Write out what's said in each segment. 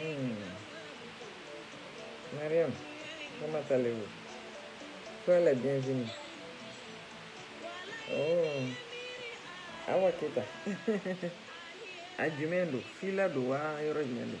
Hmm. Mariam, comment allez-vous Sois la bienvenue. Oh, Awa Keita. A jumɛn don? Fila don wa? Yɔrɔ jumɛn don?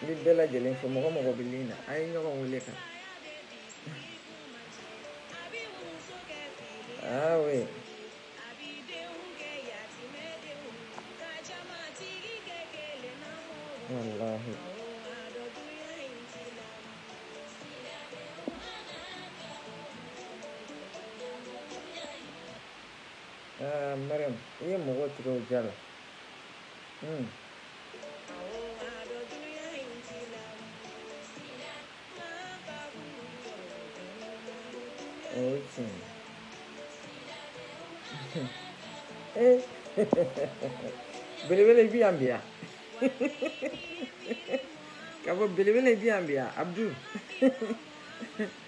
n bɛ bɛɛ lajɛlen fo mɔgɔ mɔgɔ bɛ ligne na a ye ɲɔgɔn wele ka na oui walahi ah mariam i ye mɔgɔ tigɛ o ja la. Hmm. belebele i bi yan bi yan ka bɔ belebele i bi yan bi yan abdu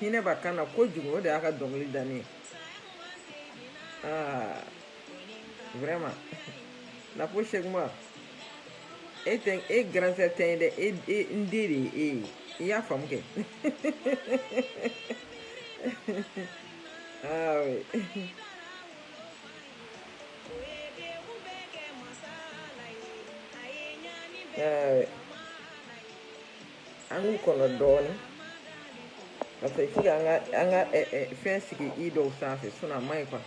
hinɛ b'a kan na kojugu o de y'a ka dɔnkili diya n ye aa vraiment na ko se e tɛ e grand frère tɛ n ye dɛ e, e n den de ye e ye i y'a faamu kɛ aa an k'u kɔnɔ dɔɔnin parce que fo an ka an ka eh, eh, fɛn sigi i dɔw sanfɛ sinon a man ɲi quoi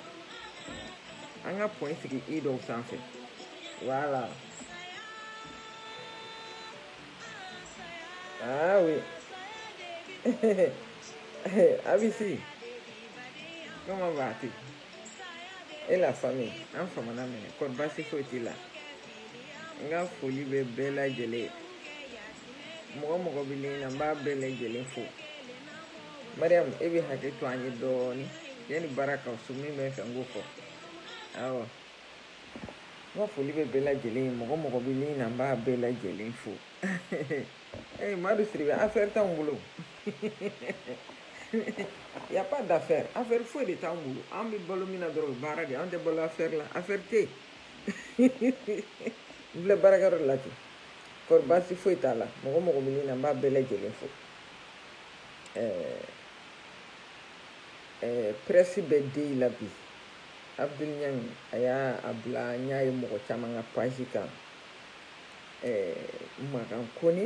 an ka point sigi i dɔw sanfɛ voilà ah oui abisi comment vas-tu et la famille an famana minɛ kɔri baasi foyi t'i la n ka foli bɛ bɛɛ lajɛlen ye mɔgɔ mɔgɔ bɛ ligne na n b'a bɛɛ lajɛlen fo mariyamu e bɛ hakɛ to an ye dɔɔnin yanni baara ka so min bɛ fɛ n k'o fɔ awɔ n ka foli bɛ bɛɛ lajɛlen ye mɔgɔ mɔgɔ bɛ ligne na n b'a bɛɛ lajɛlen fo Ee madu sidibe affaire t'an bolo y a pas d'affaire affaire foyi de t'an bolo an bɛ balo min na dɔrɔn baara de an tɛ balo affaire la affaire tɛ n filɛ baarakɛyɔrɔ la kɔri baasi foyi t'a la mɔgɔ mɔgɔ bɛ ligne na n b'a bɛɛ lajɛlen fo presse bɛ den la bi abdoul niang a y'a bila n y'a ye mɔgɔ caman ka page kan makan kone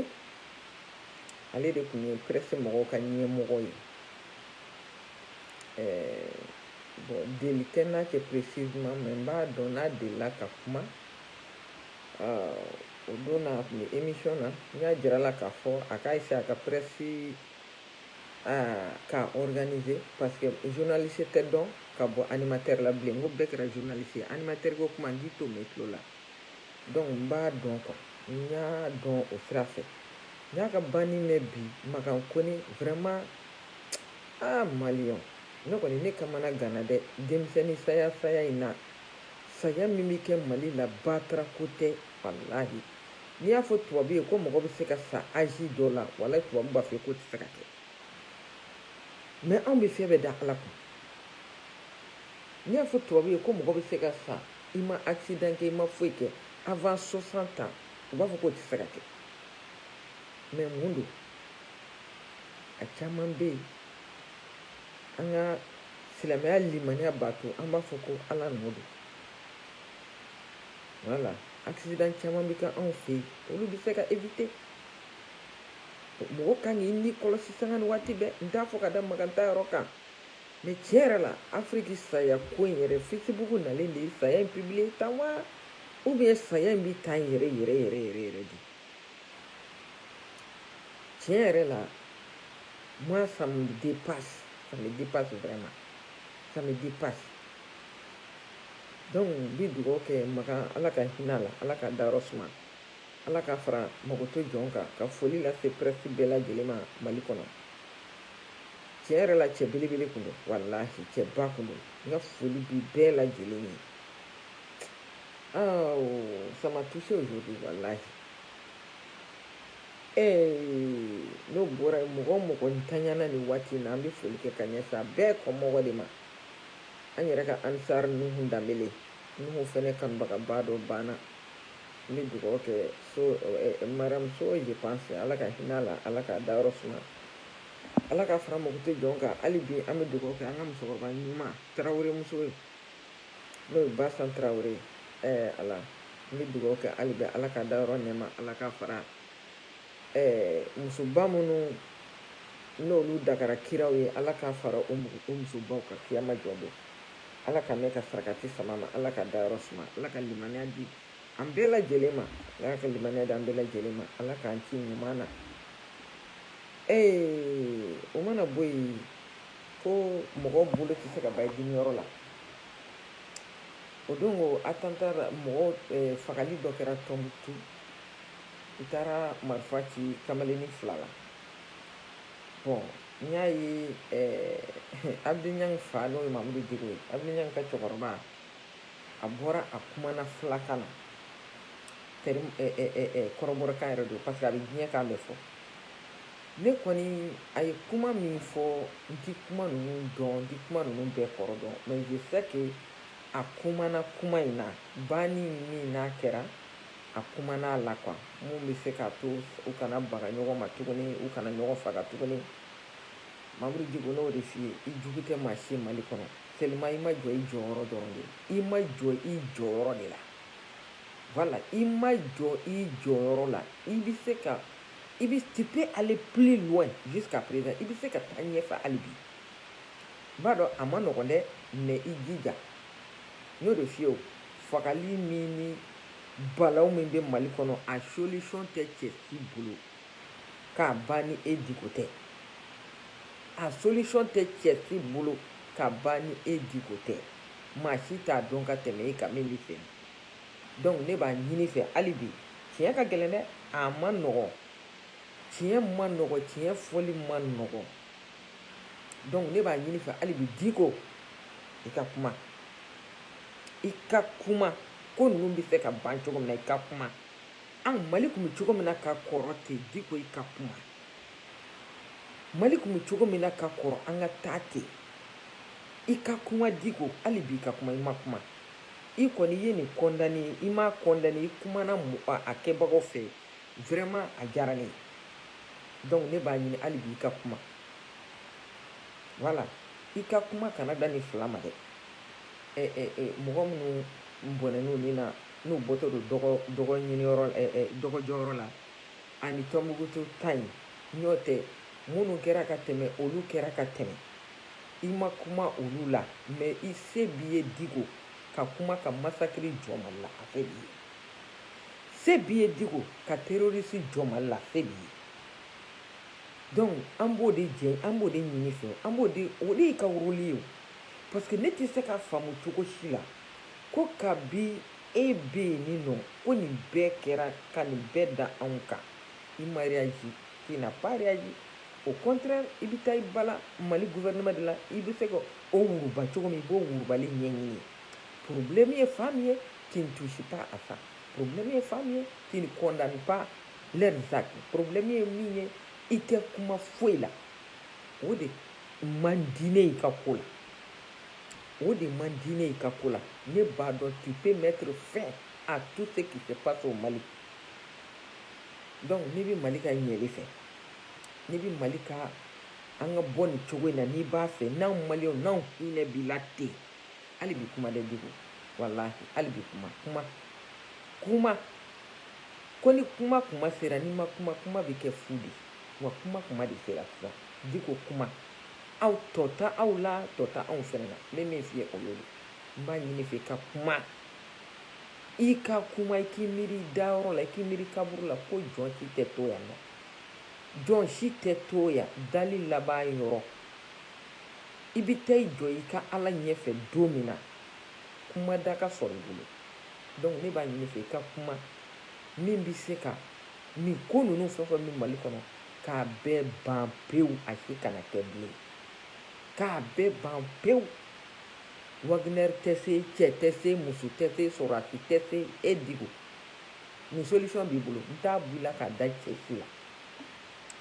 ale de tun ye presse mɔgɔw ka ɲɛmɔgɔ ye bon deli tɛ n'a cɛ précisément mais n b'a dɔn n'a delila ka kuma o don na a tun bɛ émission na n y'a jira a la k'a fɔ a k'a essayer a ka presse k'a organiser parce que journaliste tɛ dɔn ka bɔ animateur la bilen n ko bɛɛ kɛra journaliste ye animateur ko kuma n k'i t'o mɛn tulo la Donc n b'a dɔn quoi n y'a dɔn o sira fɛ n y'a ka banni mɛn bi Makan Kone vraiment ah maliyɛnw ne kɔni ne kamana ganna dɛ denmisɛnni saya saya in na saya min bɛ kɛ Mali la batarako tɛ walahi n'i y'a fɔ tubabu ye ko mɔgɔ bɛ se ka sa âge dɔ la walahi tubabu b'a fɔ k'o tɛ se ka kɛ mais anw bɛ fɛn bɛɛ da Ala kun n'i y'a fɔ tubabu ye ko mɔgɔ bɛ se ka sa i ma accident kɛ i ma foyi kɛ avant 60 ans u b'a fɔ k'o tɛ se ka kɛ mais mun don a caman bɛ yen an ka silamɛya limaniya b'a to an b'a fɔ ko ala nɔ don wala accident caman bɛ kɛ anw fɛ yen olu bɛ se ka éviter mɔgɔ kan k'i ni kɔlɔsi sanga ni waati bɛɛ n t'a fɔ ka da makan ta yɔrɔ kan Mais tiɲɛ yɛrɛ la, Afiriki saya ko in yɛrɛ, Facebook nalen de ye saya in publier tan wa? Ou bien saya in bɛ tan yɛrɛ yɛrɛ yɛrɛ yɛrɛ yɛrɛ de? Tiɲɛ yɛrɛ la, moi ça me dépasse, ça me dépasse vraiment, ça me dépasse. Donc n bɛ dugawu kɛ Makan Ala ka hinɛ a la, Ala k'a dayɔrɔ suma. Ala k'a fara makoto jɔn kan ka foli lase presse bɛɛ lajɛlen ma Mali kɔnɔ. Tiɲɛ yɛrɛ la cɛ belebele kun don walahi cɛ ba kun don n ka foli b'i bɛɛ lajɛlen ye. Oh, ça m'a touché aujourd'hui walahi. Eh, n'o bɔra yen mɔgɔ o mɔgɔ ntanyana ni waati na an bɛ foli kɛ ka ɲɛsin a bɛɛ kɔmɔgɔ de ma. An yɛrɛ ka Ansar Nuhu Danbele, Nuhu fɛnɛ kanubagaba dɔ banna. N bɛ dugawu kɛ so madame so je pense Ala ka hinɛ a la Ala k'a dayɔrɔ suma Ala k'a fara makoto jɔn kan hali bi an bɛ dugawu kɛ an ka musokɔrɔba ɲuman Tarawele muso ye n'o ye Basan Tarawele ye ɛɛ Ala n bɛ dugawu kɛ hali bi Ala k'a dayɔrɔ nɛɛma Ala k'a fara ɛɛ musoba minnu n'olu dagara kiraw ye Ala k'a fara o musobaw kan kiyama jɔ don Ala ka ne ka sarakati sama ma ala ka dayɔrɔ suma ala ka limaniya di an bɛɛ lajɛlen ma ala ka limaniya di an bɛɛ lajɛlen ma ala k'an ci ɲuman na ee o mana bɔ yen ko mɔgɔw bolo tɛ se ka b'a dimiyɔrɔ la o don ko attentat mɔgɔ eh, fagali dɔ kɛra Tɔnbukutu u taara marifa ci kamalennin fila la bon N y'a ye Abdoul Niang fa n'o ye Mamudu Diko ye Abdoul Niang ka cɛkɔrɔba a bɔra a kumana filakan na kɔrɔbɔrɔkan yɛrɛ don parce que a bɛ diɲɛ kan bɛɛ fɔ ne kɔni a ye kuma min fɔ n tɛ kuma ninnu dɔn n tɛ kuma ninnu bɛɛ kɔrɔ dɔn mais je sais que a kumana kuma in na banni min n'a kɛra A kumana a la quoi mun bɛ se k'a to u kana baga ɲɔgɔn ma tuguni, u kana ɲɔgɔn faga tuguni. Mamudu Diko, ne y'o de f'i ye, i jugu tɛ maa si ye Mali kɔnɔ, seulement i ma jɔ i jɔyɔrɔ dɔrɔn de la. I ma jɔ i jɔyɔrɔ de la. Voilà, i ma jɔ i jɔyɔrɔ la. I bɛ se ka, i bɛ, tu peux aller plus loin jusqu'à présent, i bɛ se ka taa ɲɛfɛ hali bi. N b'a dɔn a ma nɔgɔn dɛ, mais i jija. N y'o de f'i ye o, fagali min ni Balaw min bɛ Mali kɔnɔ, a solution tɛ cɛ si bolo k'a ban ni e diko tɛ. A solution tɛ cɛ si bolo k'a ban ni e diko tɛ. Maa si t'a dɔn ka tɛmɛ e kan min bɛ fɛ bi. Donc ne b'a ɲini i fɛ hali bi, tiɲɛ ka gɛlɛn dɛ, a ma nɔgɔn, tiɲɛ ma nɔgɔn, tiɲɛ fɔli ma nɔgɔn. donc ne b'a ɲini i fɛ hali bi diko i ka kuma i ka kuma ko ninnu bɛ se ka ban cogo min na i ka kuma an mali tun bɛ cogo min na ka kɔrɔ ten diko i ka kuma mali tun bɛ cogo min na ka kɔrɔ an ka taa ten i ka kuma diko hali bi i ka kuma i ma kuma i kɔni i ye nin condamné i m'a condamné i kumana a kɛbagaw fɛ Vraiment a diyara ne ye donc ne b'a ɲini hali bi i ka kuma voilà i ka kuma kana da nin fila ma dɛ eh, eh, eh, mɔgɔ minnu bɔnɛn'u ni na n'u bɔtɔ don dɔgɔ dɔgɔ ɲiniyɔrɔ eh, eh, dɔgɔ jɔyɔrɔ la ani tɔnbukutu ta in n'o tɛ minnu kɛra ka tɛmɛ olu kɛra ka tɛmɛ i ma kuma olu la mais i se b'i ye diko ka kuma ka massacre jɔ mali la a se b'i ye Se b'i ye Diko ka terroriste jɔ Mali la, se b'i ye. Donc an b'o de ɲini fɛ, o de y'i ka rôle ye o. Parce que ne tɛ se ka faamu cogo si la ko kabi e bɛ yen ni nɔ ko nin bɛɛ kɛra ka nin bɛɛ da anw kan i ma réagi, tu n'as pas réagi, au contraire i bɛ taa i bala Mali gouvernement de la, i bɛ se ka o wuruba cogo min, i b'o wurubali ɲɛɲini. Problème ye fan min ye tu ne touches pas à ça problème ye fan min ye tu ne condamnes pas leurs actes problème ye min ye i tɛ kuma foyi la o de man di ne i ka ko la o de man di ne i ka ko la ne b'a dɔn tu peux mettre fin à tout ce qui se passe au Mali donc n'i bɛ Mali ka ɲɛli fɛ n'i bɛ Mali ka an ka bɔ nin cogo in na n'i b'a fɛ n'anw maliyɛnw n'anw hinɛ b'i la ten hali bi kuma dɛ diko walahi hali bi kuma kuma kuma ko ni kuma tuma sera n'i ma kuma kuma bɛ kɛ fu de wa kuma tuma de sera sisan diko kuma aw tɔ ta aw la tɔ ta anw fɛnɛ na n bɛ min f'i ye o y'o de n b'a ɲini fɛ ka kuma i ka kuma i k'i miiri i dayɔrɔ la i k'i miiri kaburu la ko jɔn si tɛ to yan nɔ jɔn si tɛ to yan dali laban yɔrɔ I bɛ taa i jɔ i ka Ala ɲɛfɛ don min na, kuma da ka sɔrɔ i bolo. Donc ne b'a ɲini i fɛ, i ka kuma min bɛ se ka nin ko ninnu fɛn o fɛn bɛ Mali kɔnɔ, k'a bɛɛ ban pewu, a si kana kɛ bilen. K'a bɛɛ ban pewu. Wagner tɛ se, cɛ tɛ se, muso tɛ se, sɔrɔdasi tɛ se. E Diko, nin solution b'i bolo, n t'a bɔ i la k'a da cɛ si la.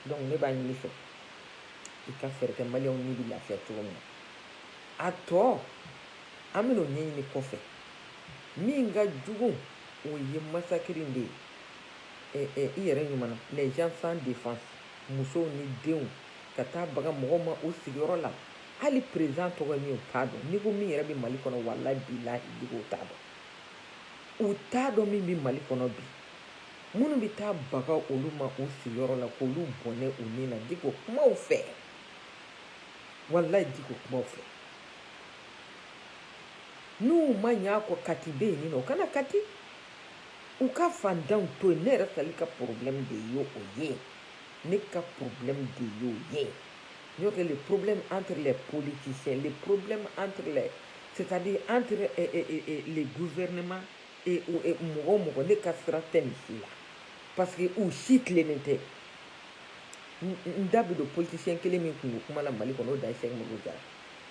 Donc ne b'a ɲini i fɛ. i ka fɛɛrɛ kɛ maliyɛnw ni bɛ lafiya cogo min na a tɔ an bɛna o ɲɛɲini kɔfɛ min ka jugu o ye massacre in de ye ɛ eh, ɛ eh, i yɛrɛ ɲuman na les gens sans défense musow ni denw ka taa baga mɔgɔw ma u sigiyɔrɔ la hali président tɔgɔ ye min u t'a dɔn ni ko min yɛrɛ bɛ mali kɔnɔ walayi bilahi diko u t'a dɔn u t'a dɔn min bɛ mali kɔnɔ bi Minnu bɛ taa baga olu ma u sigiyɔrɔ la k'olu bɔnɛ u ni na Diko kuma u fɛ, walayi Diko kuma u fɛ. N'u ma ɲ'a kɔ Kati bɛ yen ni nɔ, u ka na Kati. U ka fandanw to yen, ne yɛrɛ Sali ka problème de ye o ye, ne ka problème de y'o ye. N'o tɛ le problème entre les politiciens, le problème entre les, c'est-à-dire entre le gouvernement mɔgɔ mɔgɔ ne ka sira tɛ nin si la parce que u si tilennen tɛ n da bɛ don politicien kelen min kunko kuma na mali kɔnɔ o de ye sɛki umaru jara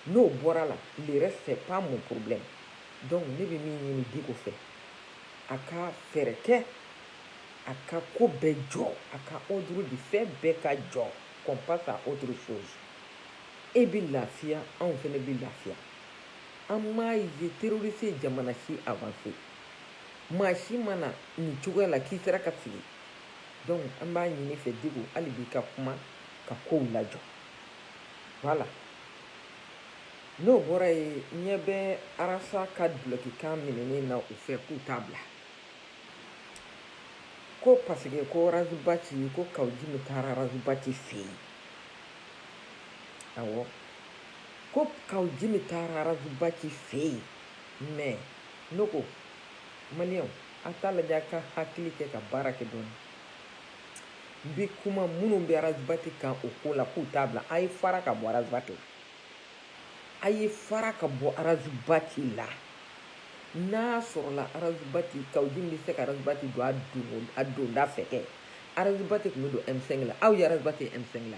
n'o bɔra la le reste c'est pas mon problème donc ne bɛ min ɲini diko fɛ a ka fɛɛrɛ kɛ a ka ko bɛɛ jɔ a ka ordre di fɛn bɛɛ ka jɔ qu'on passe à autre chose e bɛ lafiya anw fana bɛ lafiya An m'a ye terroriste ye jamana si avancer maa si ma na nin cogoya la k'i sera ka sigi donc an b'a ɲini fɛ Diko hali bi ka kuma ka kow lajɔ voilà n'o bɔra yen ɲɛ bɛ Arasa ka dulokikan minɛnen na u fɛ k'u t'a bila ko parce que ko Razibati ko Kawujimi taara Razibati fɛ yen awɔ ko kaw jimi taara arazibati fɛ yen mais ne ko maliyɛnw a t'a lajɛ a ka hakili kɛ ka baara kɛ dɔɔni n bɛ kuma minnu bɛ arazibati kan o ko la k'u t'a bila a ye fara ka bɔ arazibati la a ye fara ka bɔ arazibati la n'a sɔrɔla arazibati kaw jimi bɛ se ka arazibati don a donda fɛ kɛ arazibati tun bɛ don M5 la aw ye arazibati M5 la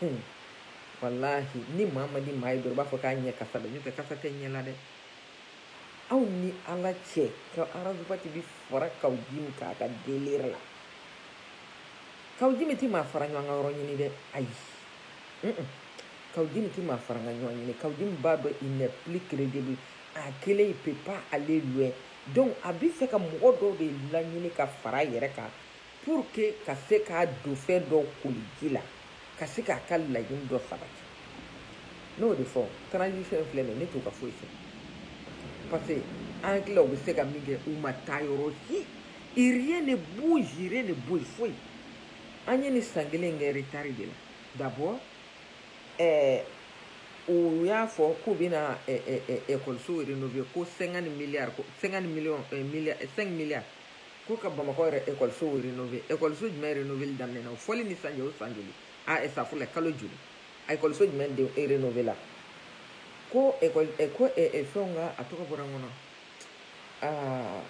Hun, walahi ni maa ma di maa ye dɔrɔn i b'a fɔ k'a ɲɛ kasa bɛ n'o tɛ kasa tɛ ɲɛ la dɛ aw ni ala cɛ ka arazubati bi fara kaw jimi k'a ka délire la kaw jimi ti maa fara ɲɔgɔn kan yɔrɔ ɲini dɛ ayi mm -mm. kaw jimi ti maa fara ka ɲɔgɔn ɲini kaw jimi b'a dɔn il n'est plus crédible a kelen il peut pas aller loin donc a bi fɛ ka mɔgɔ dɔw de laɲini ka fara a yɛrɛ kan Pour que ka se k'a don fɛn dɔw koli ji la, ka se k'a ka laɲini dɔ sabati. Ne y'o de fɔ, transition in filɛ nin ye, ne t'o ka foyi fɛ. Parce que an hakilila u bɛ se ka min kɛ, u ma taa yɔrɔ si. Et rien ne bouge, rien ne bouge, foyi. An ye nin san kelen in kɛ retard de la. D'abord, ɛɛ, u y'a fɔ k'u bɛna ɛɛ, ɛɛ, ɛkɔlisow renover ko 50 milliards, ko 50 millions, ɛɛ, milliards, 5 milliards. ko ka bamakɔ yɛrɛ ekɔlisow renove ekɔliso jumɛn renoveli daminɛna o fɔli ni san cɛ o san joli a ah, safurulayi kalo joli a ekɔliso jumɛn de renovela ko ekɔli eh, ko eh, eh, fɛnw ka a tɔgɔ bɔra n kɔnɔ aa ah,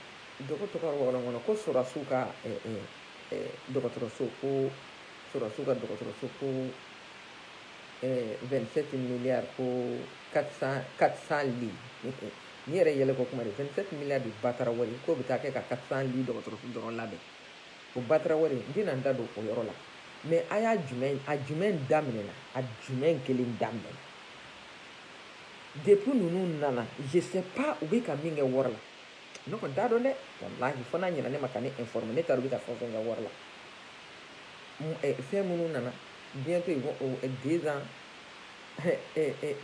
dɔgɔ tɔgɔ bɔra n kɔnɔ ko sɔrɔdasiw ka dɔgɔtɔrɔso ko sɔrɔdasiw ka dɔgɔtɔrɔso ko 27 milliards ko 400 400 lits Nin yɛrɛ yɛlɛko kuma de 27 milliards de batara wari k'o bɛ taa kɛ ka 400 lits dɔgɔtɔrɔso dɔrɔn labɛn. O batara wari n tɛna n da don o yɔrɔ la mais a y'a jumɛn a jumɛn daminɛna a jumɛn kelen daminɛna depuis ninnu nana je sais pas u bɛ ka min kɛ wari la ne kɔni t'a dɔn dɛ walahi fo n'a ɲɛna ne ma ka ne informer ne t'a dɔn u bɛ ka fɛn o fɛn kɛ wari la fɛn minnu nana bientôt ils vont deux ans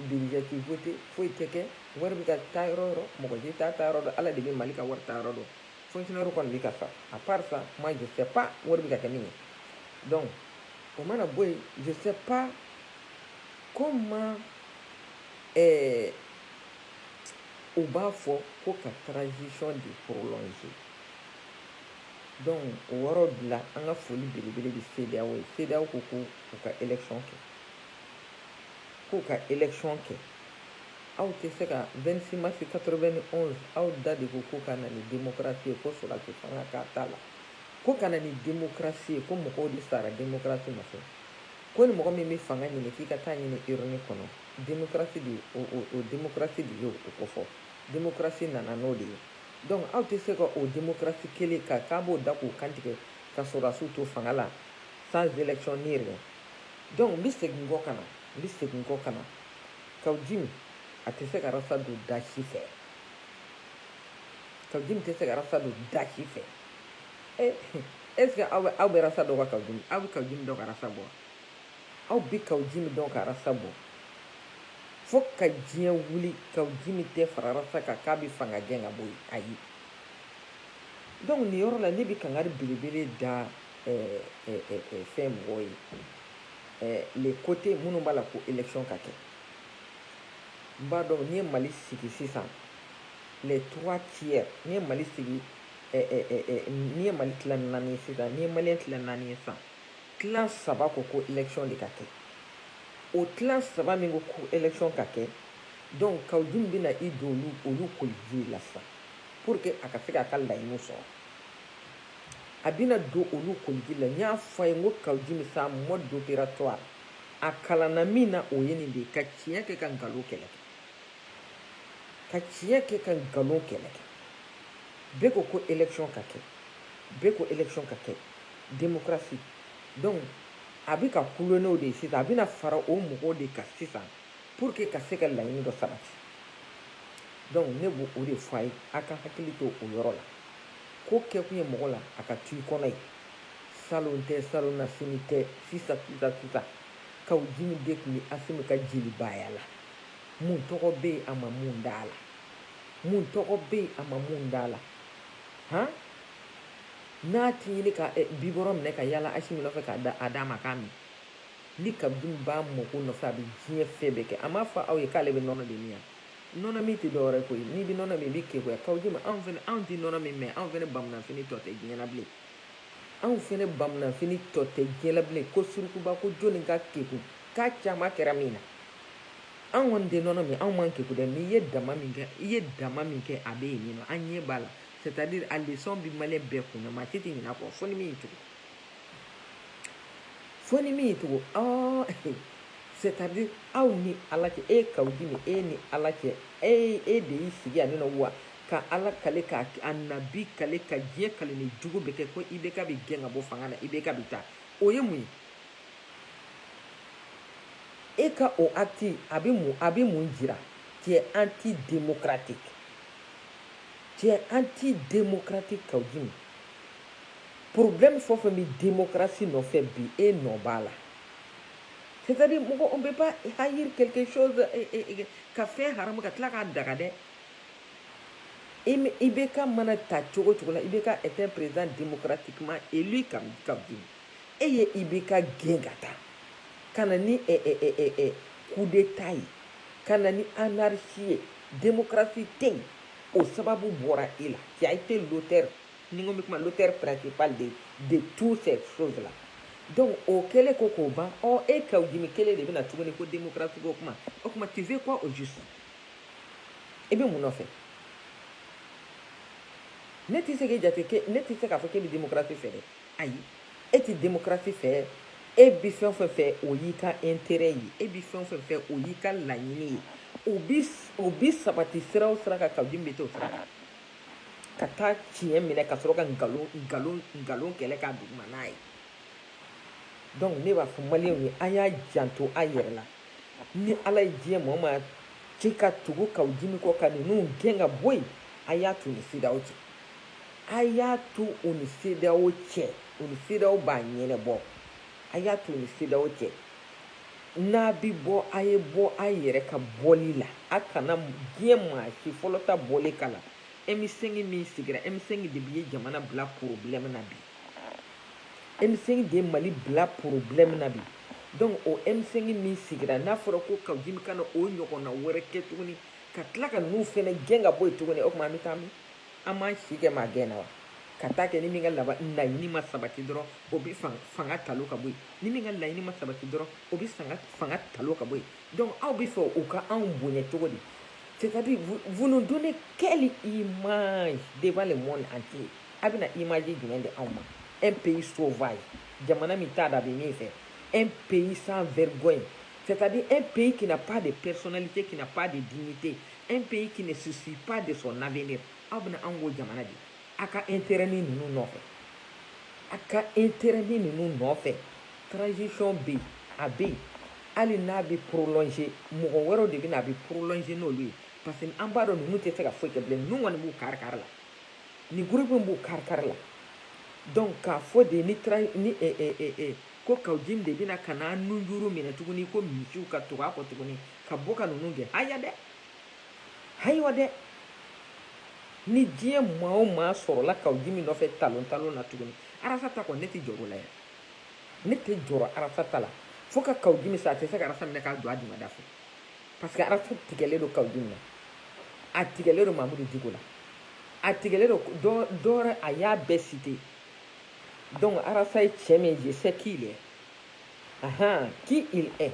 Duurujɛ k'i foyite foyi tɛ kɛ wari bɛ ka taa yɔrɔ yɔrɔ mɔgɔ tɛ taa taa yɔrɔ dɔn ala de bɛ mali ka wari ta yɔrɔ dɔn foyi yɔrɔ kɔni bɛ ka fa a pasa ma jo tɛ pan wari bɛ ka kɛ min ye dɔn o mana bɔ yen jo tɛ pan ko ma u b'a fɔ ko ka taarasɔn de foro ye dɔn o yɔrɔ bila an ka foli belebele de se ye sew ko ko u ka esɔn kɛ k'u ka election kɛ aw tɛ se ka 26 mars 91 aw da de ko ko ka na ni démocratie ye ko sɔrɔdasi fanga k'a t'a la ko ka na ni démocratie ye ko mɔgɔw de sara démocratie nɔfɛ ko ni mɔgɔ min bɛ fanga ɲini k'i ka t'a ɲini urne kɔnɔ démocratie de o démocratie de y'o kofɔ démocratie nana n'o de ye donc aw tɛ se ka o démocratie kelen ka k'a b'o da k'o kantigɛ ka sɔrɔdasiw to fanga la sans élection ni rien donc n bɛ segin kɔ ka na n bɛ segin kɔ ka na kawujimi a tɛ se ka rasa don da si fɛ kawujimi tɛ se ka rasa don da si fɛ eh, est ce que aw bɛ aw bɛ rasa dɔn ka kawujimi aw bɛ kawujimi dɔn ka rasa bɔ aw bɛ kawujimi dɔn ka rasa bɔ fo ka diɲɛ wuli kawujimi tɛ fara rasa kan k'a bɛ fanga gɛn ka bɔ yen ayi donc nin yɔrɔ la ne bɛ kangari belebele da fɛn mɔgɔw ye les côtés minnu b'a la ko election ka kɛ n b'a dɔn n'i ye mali sigi sisan les trois tiers n'i ye mali sigi n'i ye mali tila naani ye sisan n'i ye maliyɛn tila naani ye sisan tila saba ko ko election de ka kɛ o tila saba min ko ko election ka kɛ donc kawujimi bɛna i don olu olu koliji la sisan pour que a ka se k'a ka laɲiniw sɔrɔ a bɛna don olu koliji la n y'a fɔ a ye n ko kawujimi sa mode opératoire a kalanna min na o ye nin de ye ka tiɲɛ kɛ ka nkalon kɛlɛ kɛ ka tiɲɛ kɛ ka nkalon kɛlɛ kɛ bɛɛ ko ko élection ka kɛ bɛɛ ko élection ka kɛ démocratie donc a bɛ ka colonelw de ye sisan a bɛna fara o mɔgɔw de kan sisan pour que ka se ka laɲini dɔ sabati donc ne b'o o de fɔ a ye a ka hakili to o yɔrɔ la ko kɛkun ye mɔgɔ la a ka to i kɔnɔ ye salon tɛ salonnasini tɛ sisa sisa sisa kaw jimi de tun bɛ asimi ka jelibaaya la mun tɔgɔ bɛ yen a ma mun d'a la mun tɔgɔ bɛ yen a ma mun d'a la han n'a ti ɲini ka eh, bibɔrɔ minɛ ka yala asimi nɔfɛ k'a da a d'a ma k'a min Ni Kaw Jimi b'a mako nɔfɛ, a bɛ diɲɛ fɛn bɛɛ kɛ. A m'a fɔ aw ye k'ale bɛ nɔnɔ de min wa? Nɔnɔ min tɛ dɔwɛrɛ ye koyi. N'i bɛ nɔnɔ min, i b'i keguya. Kaw Jimi, anw fana, anw tɛ nɔnɔ min, mais anw fana bamunanfini tɔ tɛ diɲɛ na bilen. Anw fana bamunanfini tɔ tɛ diɲɛ la bilen. Ko surukuba, ko jɔni ka kegu k'a caman kɛra min na? Anw kɔni tɛ nɔnɔ min, anw man kegu dɛ, mais i ye dama min kɛ, i ye dama min kɛ, a bɛ yen nin nɔ, an ɲɛ b'a la. C'est à dire a leçon bɛ maliyɛn bɛɛ kunna, maa si tɛ ɲinɛ a kɔ, fo ni min y'i tugu. fo ni min y'i tugu ɔɔ c'est-à-dire aw ni ala cɛ e kaw jimi e ni ala cɛ e e de y'i sigi yan nɔ wa ka ala kale ka a nabi kale ka diɲɛ kaleni jugu bɛɛ kɛ ko IBK bi gɛn ka bɔ fanga na IBK bi taa o ye mun ye e ka o acte a bɛ mun a bɛ mun jira tu es anti démocratique tu es anti démocratique kaw jimi Problème fɛn o fɛn bɛ démocratie nɔfɛ bi, e nɔ b'a la. C'est à dire mɔgɔ on peut pas haïr quelque chose ka fɛn haramu ka tila k'a daga dɛ. IBK mana ta cogo cogo la, IBK est un président démocratiquement élu Kaw Jimi. E ye IBK gɛn ka taa ka na ni coup d'état ye, ka na ni anarchie ye, démocratie tɛ yen, o sababu bɔra e la, tu as été l'auteur ni ko bɛ kuma l'auteur principal de de tout ces choses là donc o kɛlen kɔ k'o ban ɔ e kaw jimi kelen de bɛ na tuguni ko démocratie ko kuma o kuma tu veux quoi au juste i bɛ mun nɔfɛ ne tɛ se k'e jate ke ne tɛ se k'a fɔ k'e bɛ démocratie fɛ dɛ ayi e tɛ démocratie fɛ e bɛ fɛn o fɛn fɛ o y'i ka intérêt ye e bɛ fɛn o fɛn fɛ o y'i ka laɲini ye o bi o bi sabati sira o sira kan kaw jimi bɛ t'o sira kan. ka taa tiɲɛ minɛ ka sɔrɔ ka nkalon nkalon nkalon kɛlɛ k'a duguma n'a ye donc ne b'a fɔ maliyɛnw ye an y'an janto an yɛrɛ la ni ala ye diɲɛ maa o maa ci ka tugu kaw jimi kɔ ka ninnu gɛn ka bɔ yen a y'a to ni CEDEAO cɛ a y'a to u ni CEDEAO cɛ u ni CEDEAO b'a ɲɛnɛbɔ a y'a to u ni CEDEAO cɛ N'a bi bɔ, a ye bɔ a yɛrɛ ka bɔli la. A kana diɲɛ maa si fɔlɔ ta bɔli kala M5 min sigira. M5 de bi ye jamana bila problème na bi. M5 de ye Mali bila problème na bi. Donc o M5 min sigira, n'a fɔra ko Kawjimi kana o ɲɔgɔnna wɛrɛ kɛ tuguni, ka tila ka ninnu fana gɛn ka bɔ yen tuguni, o tuma an bɛ taa min? an b'an si kɛ maa gɛn na wa ka taa kɛ ni min ka laɲini ma sabati dɔrɔn o bɛ fanga talon ka bɔ yen ni min ka laɲini ma sabati dɔrɔn o bɛ fanga talon ka bɔ yen donc aw bɛ fɛ u ka anw bonya cogo di c'est-à-dire vous nous donnez quelle image devant le monde entier a bɛna image jumɛn di anw ma un pays sauvage jamana min t'a da bɛ min fɛ un pays sans vergogne c'est-à-dire un pays qui n'a pas de personnalité qui n'a pas de dignité Un pays qui ne se soucie pas de son avenir aw bɛna anw k'o jamana de a ka intérêt ni ninnu nɔfɛ a ka intérêt ni ninnu nɔfɛ transition bɛ yen a bɛ yen hali n'a bɛ prolonger mɔgɔ wɛrɛw de bɛ na a bɛ prolonger n'olu ye parce que an b'a dɔn ninnu tɛ se ka foyi kɛ bilen ninnu kɔni b'u kari kari la nin groupe in b'u kari kari la donc k'a fɔ de ni tra ni eh, eh, eh, eh, ko kawjimi de bɛna ka na nunjuru minɛ tuguni ko misiw ka tugu a kɔ tuguni ka bɔ ka ninnu gɛn haya dɛ hayiwa dɛ ni diɲɛ maa o maa sɔrɔla kawjimi nɔfɛ talon talon na tuguni arasa ta kɔni ne tɛ jɔr'o la yan ne tɛ jɔrɔ arasa ta la fo ka kawjimi sa a tɛ se ka arasa minɛ k'a jɔ a dingɛ da fɛ parce que arasa tigɛlen don kawjimi na a tigɛlen don mamudu diko la a tigɛlen don dɔ wɛrɛ a y'a bɛɛ citer donc arasa ye cɛ min ye je sais qui il est qui il est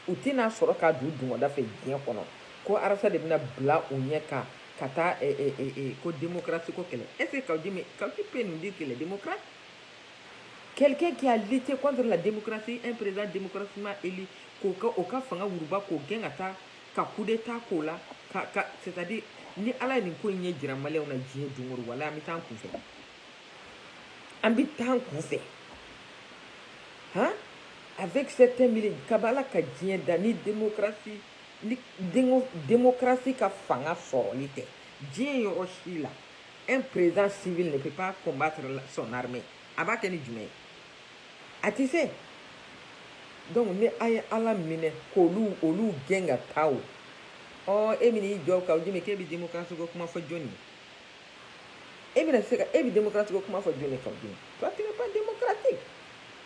u tɛn'a sɔrɔ k'a don dingɛ da fɛ diɲɛ kɔnɔ ko arasa de bɛna bila u ɲɛ kan ka taa eh, eh, eh, eh, ko démocratie ko kɛlɛ est ce que Kawjimi Kawjimi peut nous dire qu'il est démocrate quelqu'un qui a lutté contre la démocratie un président démocratiquement élu k'o ka o ka fanga wuruba k'o gɛn ka taa ka coup d'état k'o la ka ka c'est à dire ni ala ye nin ko in ɲɛ jira maliyɛnw na diɲɛ don o don walayi an bɛ taa an kunfɛ an bɛ taa an kunfɛ han avec certains milieux kaba ala ka diɲɛ da ni démocratie ni démocratie ka fanga sɔrɔli tɛ diɲɛ yɔrɔ si la un président civil ne peut pas combattre son armée a b'a kɛ ni jumɛn ye a tɛ se donc ni a ye ala minɛ k'olu olu gɛn ka taa o ɔ e bɛna i jɔ kawjimi k'e bɛ démocratie ko kuma fɔ jɔni ye e bɛna se ka e bɛ démocratie ko kuma fɔ jɔnni Kawujimi toi tu n'es pas démocratique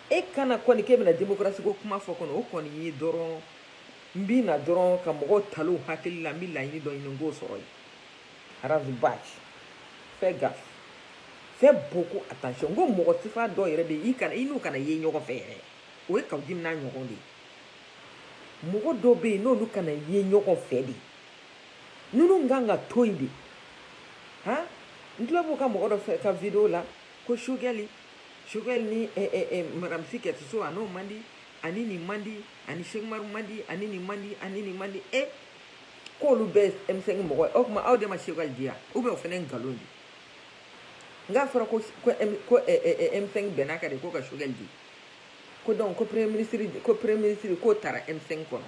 e kana kɔni k'e bɛna démocratie ko kuma fɔ kɔni o kɔni ye dɔrɔn n bɛ na dɔrɔn ka mɔgɔw taliw hakili la n bɛ laɲini dɔ ɲini n k'o sɔrɔ ye Ras Bath fais gaffe fais beaucoup attention n ko mɔgɔ sifa dɔ yɛrɛ bɛ yen i n'u kana ye ɲɔgɔn fɛ yɛrɛ o ye Kawujimi n'a ɲɔgɔn de ye mɔgɔ dɔw bɛ yen n'olu kana ye ɲɔgɔn fɛ de Ninnu kan ka to yen de. Han n tulo b'u ka mɔgɔ dɔ fɛ ka video la ko Shogɛli Shogɛli ni madame Sy Kadiatou Sow a n'o man di ani nin man di ani Sheku Umaru man di ani nin man di ani nin man di e k'olu bɛɛ ye M5 mɔgɔ ye o tuma aw de ma Shogɛli di yan ou bien o fana ye nkalon de ye nk'a fɔra ko ko ko M5 bɛnn'a kan de ko ka Shogɛli di ko donc ko premier ministre ko premier ministre k'o tara M5 kɔnɔ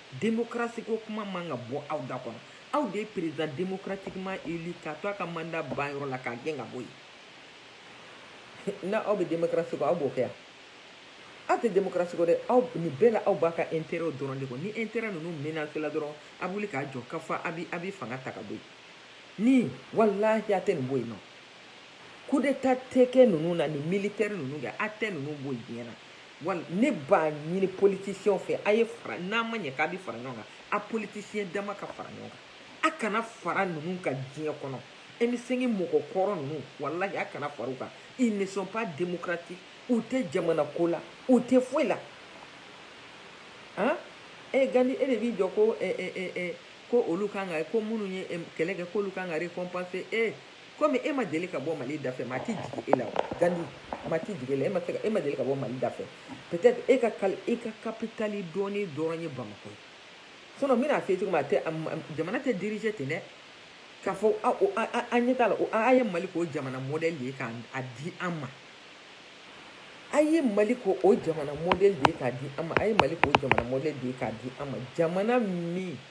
Demokarasiko kuma man ka bɔ aw da kɔnɔ. Aw de ye président démocratiquement élu k'a to a ka mandat ban yɔrɔ la k'a gɛn ka bɔ yen. N'aw bɛ demokarasi kɔ, aw b'o kɛ wa? Aw tɛ demokarasi kɔ dɛ, aw nin bɛɛ la aw b'a ka intérêt dɔrɔn de kɔ. Ni intérêt ninnu menacé la dɔrɔn, a bɛ wuli k'a jɔ ka fɔ a bɛ a bɛ fanga ta ka bɔ yen. Nin walahi a tɛ nin bɔ yen nɔ. Coup d'Etat tɛ kɛ ninnu na ni militaire ninnu kɛ, a tɛ ninnu bɔ yen diɲɛ na. Wala ne b'a ɲini politiciens fɛ a ye fara n'a ma ɲɛ k'a bɛ fara ɲɔgɔn kan a politiciens dama ka fara ɲɔgɔn kan a kana fara ninnu kan diɲɛ kɔnɔ M5 mɔgɔ kɔrɔ ninnu walahi a kana fara u kan ils ne sont pas démocratiques u tɛ jamana ko la u tɛ foyi la han e Gandhi e de b'i jɔ ko eh, eh, eh, eh, ko olu kan ka ko minnu ye kɛlɛ kɛ k'olu kan ka récompenser e eh. Komi e ma deli ka bɔ Mali dafɛ, maa tɛ jigin e la wa? Gandhi, Maa tɛ jigin e la, e ma se ka, e ma deli ka bɔ Mali dafɛ. Peut-être e ka kal, e ka kapitali dɔnnen dɔrɔn ye Bamakɔ ye. Sinon n bɛn'a f'i ye cogo min, a tɛ, jamana tɛ diriger ten dɛ. K'a fɔ a, o, a, a, a ɲɛ t'a la, o, a, a ye Mali k'o jamana modèle de ye k'a a di an ma. A ye Mali k'o o jamana modèle de ye k'a di an ma, a ye Mali k'o jamana modèle de ye k'a di an ma, jamana min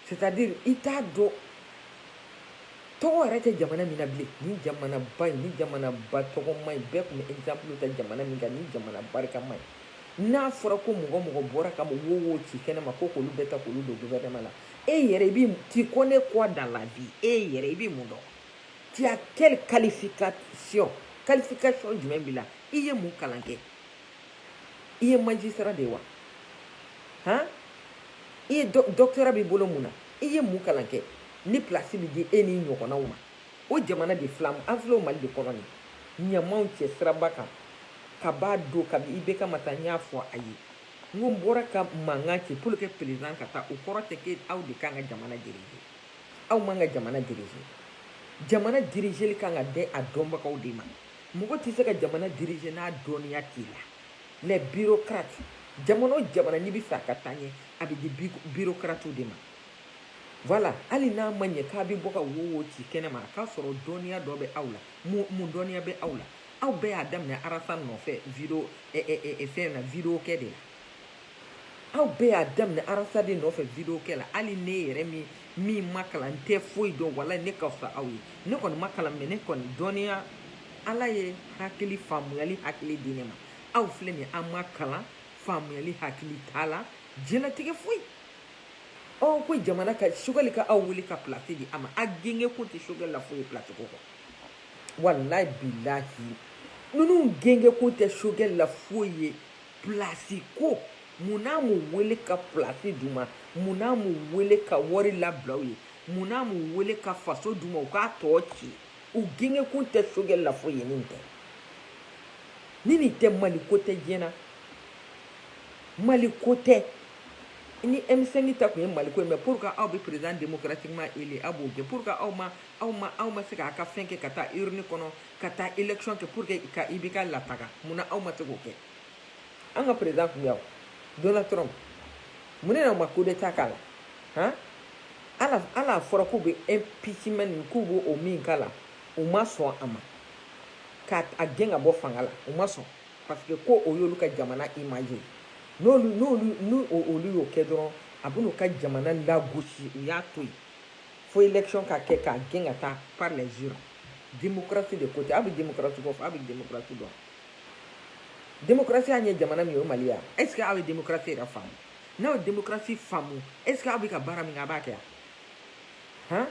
c'est à dire i t'a dɔn tɔgɔ yɛrɛ tɛ jamana min na bilen nin jamanaba in nin jamanaba tɔgɔma in bɛɛ tun bɛ exemple ta jamana min kan nin jamana barikama in n'a fɔra ko mɔgɔ mɔgɔ bɔra ka wo wo ci kɛnɛma ko k'olu bɛɛ ta k'olu don gouvernement la e yɛrɛ i bɛ tu connais quoi dans la vie e yɛrɛ i bɛ mun dɔn tu as quelle qualification qualification jumɛn b'i la i ye mun kalan kɛ i ye magistrat de ye wa han i ye doctorat b'i bolo mun na i ye mun kalan kɛ ni pilasi bɛ di e n'i ɲɔgɔnnaw ma o jamana de filɛ an filɛ o mali de kɔnɔ nin ɲamaw cɛ siraba kan ka b'a don kabi IBK ma taa n y'a fɔ a ye n ko n bɔra ka mankan ci pour que président ka taa o kɔrɔ tɛ ko aw de kan ka jamana dirige aw man ka jamana dirige jamana dirigeli kan ka di a dɔnbagaw de ma Mɔgɔ tɛ se ka jamana diriger n'a dɔnniya t'i la. Les bureaucrates, jamana o jamana n'i bɛ fɛ a ka taa ɲɛ, a bɛ di bureaucrates de ma. Voilà, hali n'a ma ɲɛ k'a bɛ bɔ ka wo wo ci kɛnɛ ma, a k'a sɔrɔ dɔnniya dɔ bɛ aw la. Mun dɔnniya bɛ aw la? Aw bɛɛ y'a daminɛ Rasta nɔfɛ fɛn na, vidéo kɛ de la. Aw bɛɛ y'a daminɛ Rasta de nɔfɛ vidéo kɛ la hali ne yɛrɛ min min ma kalan n tɛ foyi dɔn walayi ne ka fisa aw ye ne kɔni ma kalan mɛ ne kɔni dɔnniya ala ye hakili faamuyali hakili di ne ma aw filɛ nin aw ma kalan faamuyali hakili t'a la diɲɛlatigɛ foyi ɔ ko jamana ka Choguel ka aw wele ka pilasi di a ma a gengekun tɛ Choguel la foyi pilasi ko kɔ walayi bilahi ninnu gengekun tɛ Choguel la foyi ye Plasi ko mun n'a m'u wele ka plasi d'u ma, mun n'a m'u wele ka wari labila u ye, mun n'a m'u wele ka faso d'u ma u k'a tɔ ci, u gengekun tɛ Choguel la foyi ye ni nin tɛ, ni nin tɛ Mali ko tɛ diɲɛ na, Mali ko tɛ. Ni M5 ta tun ye Mali ko ye mais pourquoi aw bɛ président démocratiquement élu aw b'o gɛn? Pourquoi aw ma aw ma aw ma se k'a ka fɛn kɛ ka taa urne kɔnɔ ka taa élection kɛ pour que i ka IBK lataga mun na aw ma se k'o kɛ an ka président tun y'aw Donald Trump mun de na ma coup d'état k'a la han ala ala a fɔra k'u bɛ impeachment nin k'u b'o o min k'a la u ma sɔn a ma k'a a gɛn ka bɔ fanga la u ma sɔn parce que ko o y'olu ka jamana image ye n'olu n'olu ni olu y'o kɛ dɔrɔn a bɛn'u ka jamana lagosi u y'a to yen fo élection ka kɛ k'a gɛn ka taa par les urnes Démocratie de ko tɛ aw bɛ démocratie ko fɔ aw bɛ démocratie dɔn démocratie an ye jamana min ye o Mali ya est ce que aw ye démocratie yɛrɛ faamu n'aw ye démocratie faamu est ce que aw bɛ ka baara min kɛ a b'a kɛ han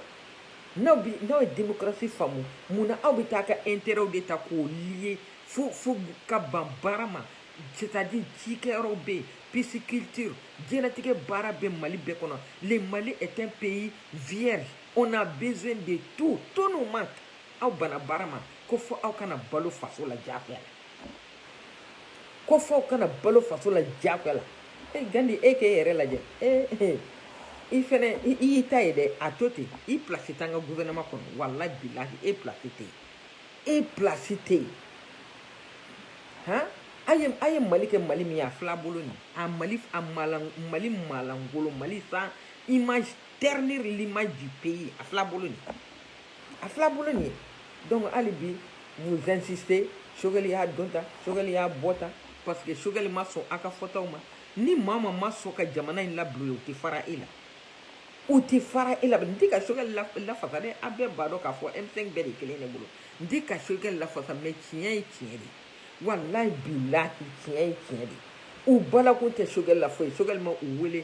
n'aw bi n'aw ye démocratie faamu mun na aw bɛ taa ka intérêt de ta k'o lier fo fo ka ban baara ma c'est à dire cikɛyɔrɔw bɛ yen pisciculture diɲɛlatigɛ baara bɛ Mali bɛɛ kɔnɔ le Mali est un pays vierge On a besoin de tout tout nous manque aw banna baara ma ko fo aw ka na balo faso la diyagoya la ko fo aw ka na balo faso la diyagoya la e gandi e k'e yɛrɛ lajɛ e i fɛnɛ i y'i ta ye dɛ a to ten i place t'an ka gouvernement kɔnɔ walahi bilahi e place tɛ yen e place tɛ yen han a ye a ye mali kɛ mali min ye a fil'a bolo nin a mali a maalan mali maalankolon mali sans image ternir l'image du pays a fil'a bolo nin a fil'a bolo nin donc hali bi vous insistez Choguel y'a don tan Choguel y'a bɔ tan parce que Choguel ma sɔn a ka fɔtaw ma ni maa ma ma sɔn ka jamana in labil'u ye u tɛ fara e la u tɛ fara e la n tɛ ka Choguel lafasa dɛ a bɛɛ b'a dɔn k'a fɔ m5 bɛɛ de kelen ne bolo n tɛ ka Choguel lafasa mais tiɲɛ ye tiɲɛ de ye walayi bilahi tiɲɛ ye tiɲɛ de ye u balakun tɛ Choguel la foyi Choguel ma u wele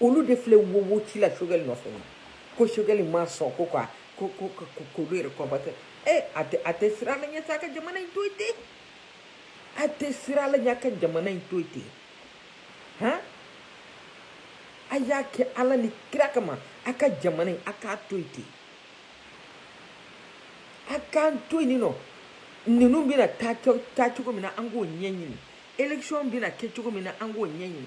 olu de filɛ wowo ci la Choguel nɔfɛ ko Choguel ma sɔn ko ka k'olu yɛrɛ combattre ee a tɛ a tɛ siran ala ɲɛ sa a ka jamana in to yen ten a tɛ siran ala ɲɛ a ka jamana in to yen ten han a y'a kɛ ala ni kira kama a ka jamana in a k'a to yen ten a k'an to yen nord ninnu bɛna ta cogo min na an k'o ɲɛɲini élection bɛna kɛ cogo min na an k'o ɲɛɲini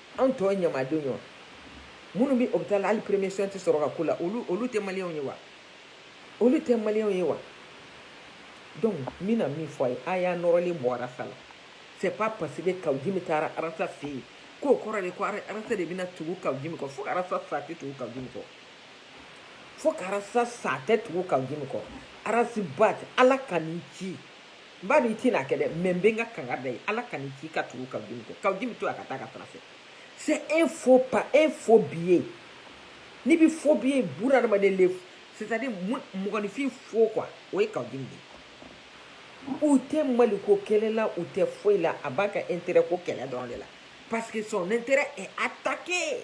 Anw tɛ jamanadenw ye wa? Minnu bɛ hôpital la hali premier soin tɛ sɔrɔ ka k'u la, olu olu tɛ maliyɛnw ye wa? Olu tɛ maliyɛnw ye wa? Donc n bɛna min fɔ a ye, a y'a nɔrɔlen bɔ Arasa la, c'est pas parce que Kawujimi taara Arasa fɛ yen k'o kɔrɔ de ko Arasa de bɛna tugu Kawujimi kɔ, fo ka Arasa sa a tɛ tugu Kawujimi kɔ, fo ka Arasa sa a tɛ tugu Kawujimi kɔ, Ras Bath Ala kan'i ci n b'a dɔn i tɛn'a kɛ dɛ mais n bɛ n ka kangari da i ye ala kan'i ci ka tugu kawujimi kɔ kawujimi to a ka taa ka tara fɛ c'est un faux pas un faux billet n'i bɛ faux billet bunadamaden le c'est à dire mɔgɔninfin faux quoi o ye kawujimi de ye u tɛ maliko kɛlɛ la u tɛ foyi la a b'a ka intérêt ko kɛlɛ dɔrɔn de la parce que son intérêt est attaqué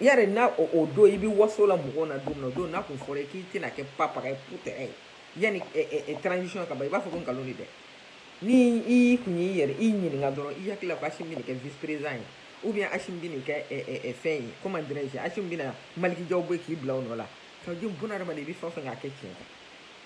Yari n'a o don i bɛ waso la mɔgɔw na don o don n'a tun fɔra k'i tɛna kɛ pa pa ye pte ye yanni transition ka ban i b'a fɔ ko nkalon de dɛ ni i tun y'i yɛrɛ i ɲininka dɔrɔn i hakili la k'Assimi bɛn'i kɛ vice président ye ou bien Assimi bɛn'i kɛ fɛn ye comment dirais-je Assimi bɛna Malick Diaw bɔ k'i bila o nɔ la ka bɛ i bɛ fɛn fɛ k'a kɛ tiɲɛ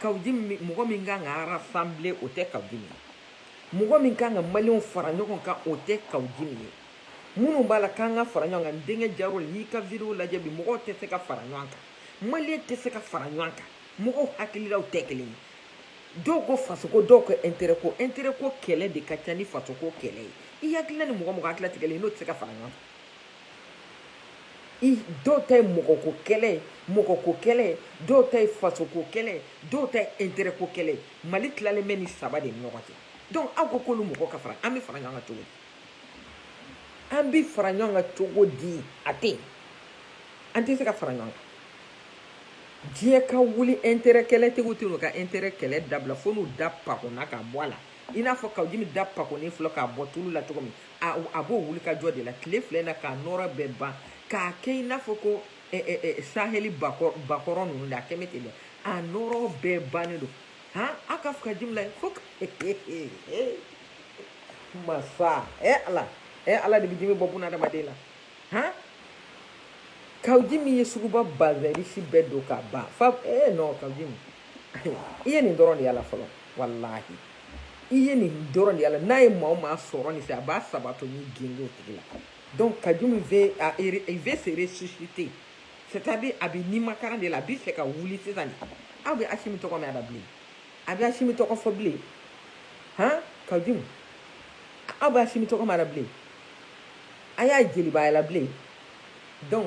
kawujimi mɔgɔ min kan ka rassembler o tɛ kawujimi ye mɔgɔ min kan ka maliyɛnw fara ɲɔgɔn kan o tɛ kawujimi ye minnu b'a la k'an ka fara ɲɔgɔn kan n denkɛ jaro n y'i ka vidéo lajɛ bi mɔgɔw tɛ se ka fara ɲɔgɔn kan maliyɛn tɛ se ka fara ɲɔgɔn kan mɔgɔw hakililaw tɛ kelen ye dɔw ko fasoko dɔw ko intérêt ko intérêt ko kɛlɛ de ka ca ni fasoko kɛlɛ ye i hakilila ni mɔgɔ mɔgɔ hakilila tɛ kelen ye n'o tɛ se ka fara ɲɔgɔn kan i dɔw ta ye mɔgɔko kɛlɛ ye mɔgɔko kɛlɛ ye dɔw ta ye fasoko kɛlɛ ye dɔw ta ye intérêt ko kɛlɛ ye mali tilalen bɛ nin saba de ni ɲɔgɔn cɛ donc aw ko k'olu mɔgɔ ka fara an bɛ fara ɲɔgɔn kan cogo di an bɛ fara ɲɔgɔn kan cogo di a tɛ yen an tɛ se ka fara ɲɔgɔn kan diɲɛ ka wuli intérêt kɛlɛtigiw tɛn'u ka intérêt kɛlɛ dabila fo n'u da pakonna k'a bɔ a la i n'a fɔ kawu jimi da pakonnen filɛ k'a bɔ tulu la cogo min a b'o wuli ka jɔ de la tile filɛ na k'a nɔɔrɔ bɛɛ ban k'a kɛ i n'a fɔ ko saheli bakɔrɔn ninnu de a kɛ bɛ ten dɛ a nɔɔrɔ bɛɛ bannen don han a ka fɔ kawu jimi la fo masa ɛ ala ɛ ala de bɛ jimi bɔ buna adamaden la han kawu jimi ye suguba bazɛn risi bɛɛ don ka ban fa ee non kawu jimi i ye nin dɔrɔn de y'a la fɔlɔ walahi i ye nin dɔrɔn de y'a la n'a ye maa o maa sɔrɔ nin fɛ a b'a sabato ni gendo tigi la donc kawu jimi veut a veut se ressusciter c'est à dire a bɛ nimakaran de la a b'a fɛ ka wuli sisan de aw bɛ asimi tɔgɔ mɛn a da bilen a bɛ asimi tɔgɔ fɔ bilen han kawu jimi aw bɛ asimi tɔgɔ mɛn a da bilen a y'a jelibaya labila donc